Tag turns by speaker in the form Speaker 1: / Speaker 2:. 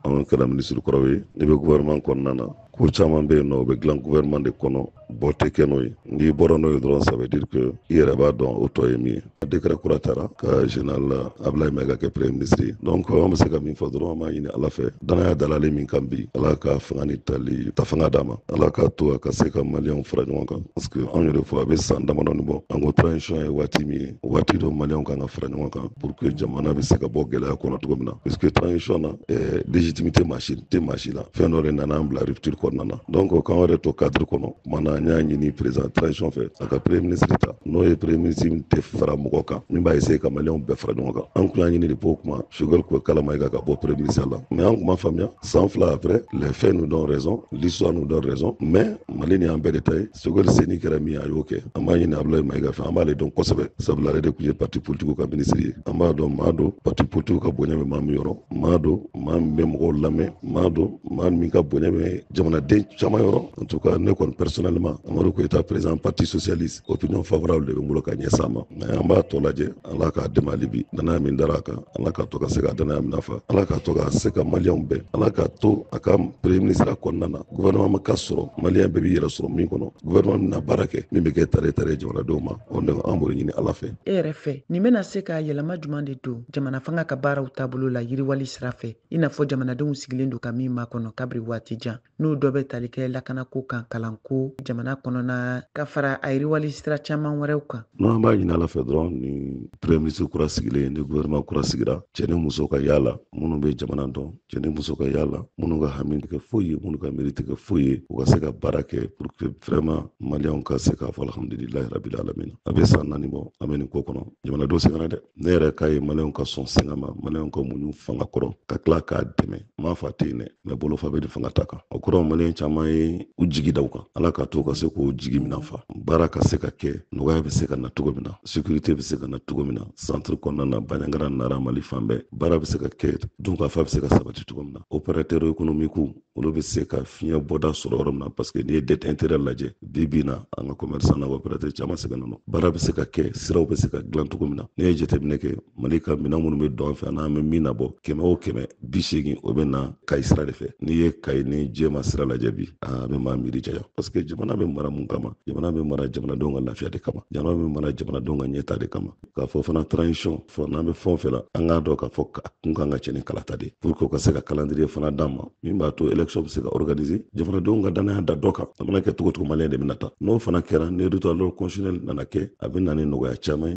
Speaker 1: an kɛra minisiri kɔrɔw ye n'i bɛ gouvernement kɔnɔna na ko caman bɛ yen n'o bɛ dilan gouvernement de kɔnɔ bɔ tɛ kɛ n'o ye n'i bɔra n'o ye dɔrɔn ça veut dire que i yɛrɛ b'a dɔn o tɔ ye min ye décret kura tara ka général Ablaye Mayiga kɛ premier ministre ye donc an bɛ se ka min fɔ dɔrɔn an b'a ɲini Ala fɛ danaya dalalen min kan bi Ala ka fanga ni tali ta fanga d'a ma Ala k'a to a ka se ka maliyɛnw fara ɲɔgɔn kan parce que anw yɛrɛ fɔ a bɛ san damadɔnin bɔ an ko transition ye waati min ye waati don maliyɛnw ka kan ka fara ɲɔgɔn kan pour que jamana bɛ se ka bɔ gɛlɛya kɔnɔ cogo min na parce que transition na eh, légitimité maa si tɛ maa si la fɛn dɔ de nana an bila rupture kɔnɔna na donc k'an yɛrɛ to cadre kɔnɔ tuma na an y'a ɲini président transition fɛ a ka premier ministre ta n'o ye premier ministre min tɛ fara mɔgɔ kan min b'a essayer ka maliyɛnw bɛɛ fara ɲɔgɔn kan an tun y'a ɲini depuis o tuma sogɛli kokala mayiga ka bɔ premier ministre la mais an tun ma faamuya San fila après les faits nous donnent raison l'histoire nous donne raison mais mali nin y'an bɛɛ de ta ye sogɛli se nin kɛra min ye a y'o kɛ an b'a ɲini abulayi mayiga fɛ an b'ale dɔn kosɛbɛ sabula ale de tun ye parti politikiw ka minisiri ye an b'a dɔn maa don parti politikiw ka bonya bɛ maa min yɔrɔ maa don maa min bɛ mɔgɔw lamɛn maa don maa min ka bonya bɛ jamanaden caman yɔrɔ en tout cas ne kɔni personnellement amadu koyita président parti socialiste opinion favorable de bɛ n bolo ka ɲɛsin a ma mais an b'a tɔ lajɛ ala k'a dɛmɛ hali bi danaya min dara a kan ala k'a to ka se ka danaya minɛn fa ala k'a to ka se ka maliyɛnw bɛn ala k'a to a ka premier ministre kɔnɔna na gouvernement ka sɔrɔ maliyɛn bɛɛ b'i yɛrɛ sɔrɔ min kɔnɔ gouvernement min na baara kɛ min bɛ kɛ taare taare jamanadenw ma o de an b'o ɲini ala fɛ e yɛrɛ fɛ nin
Speaker 2: bɛna se ka yɛlɛma juman de don jamana fanga ka baaraw taabolo la yiriwali sira fɛ i n'a fɔ jamanadenw sigilen don ka min makɔnɔ kabiri waati jan n'o dɔ bɛ tali kɛ lakanako kan kalanko jamana kɔnɔna ka fara a yiriwali sira caman wɛrɛw kan non an b'a ɲini ala fɛ
Speaker 1: dɔrɔn ni premier ministre kura sigilen ye ni gouvernement kura sigira cɛ ni muso ka y'a la minnu bɛ jamana dɔn cɛ ni muso ka y'a la minnu ka hami tɛ kɛ foyi ye minnu ka miiri tɛ kɛ foyi ye u ka se ka baara kɛ pour que vraiment maliyɛnw ka se k'a fɔ alhamdulilahi rabili alamina a bɛ san naani bɔ an bɛ nin ko kɔnɔ jamanadenw sɛgɛnna dɛ ne yɛrɛ k'a ye maliyɛnw ka sɔn sɛgɛn ma maliyɛnw ka muɲu fanga kɔrɔ ka tila k'a dɛmɛ maa fa tɛ yen dɛ mais bolofa bɛ de fanga ta kan o kɔrɔ maliyɛn caman ye u jigi da u kan ala k'a to ka se k'o jigi minɛn fa baara ka se ka kɛ nɔgɔya bɛ se ka na cogo min na sécurité bɛ se ka na cogo min na centre kɔnɔna na Bandiagara nara mali fan bɛɛ baara bɛ se ka kɛ dunkafa bɛ se ka sabati cogo min na opérateurs économiques olu bɛ se ka fiɲɛ bɔda sɔrɔ yɔrɔ min na parce que n'i ye dette intérieure lajɛ bi bi na an ka commerçant n'an ka opérateur caman sɛgɛnnen don baara bɛ se ka kɛ siraw bɛ se ka dilan cogo min na n'i ye jateminɛ kɛ mali ka minɛn minnu bɛ don an fɛ ani an bɛ min nabɔ kɛmɛ o kɛmɛ biseegin o bɛ na kayi sira de fɛ n'i ye kayi ni jɛma sira lajɛ bi a bɛ maa miiri janya parce que jamana bɛ mara mun kama jamana bɛ mara jamanadenw ka lafiya de kama jamana bɛ mara jamanadenw ka ɲɛta de kama k'a fɔ fana transition fɔ n'an bɛ fɛn o fɛn la an k'a dɔn k'a fɔ a kun kan ka cɛ ni kalata de pour que u ka se ka calendrier fana d'an ma min b'a to élection bɛ se ka organiser jamanadenw ka dannaya da dɔ kan a mana kɛ cogo o cogo maliyɛn de bɛna ta n'o fana kɛra ni retour à l'ordre constitutionnel nana kɛ a bɛ na ni nɔgɔya caman ye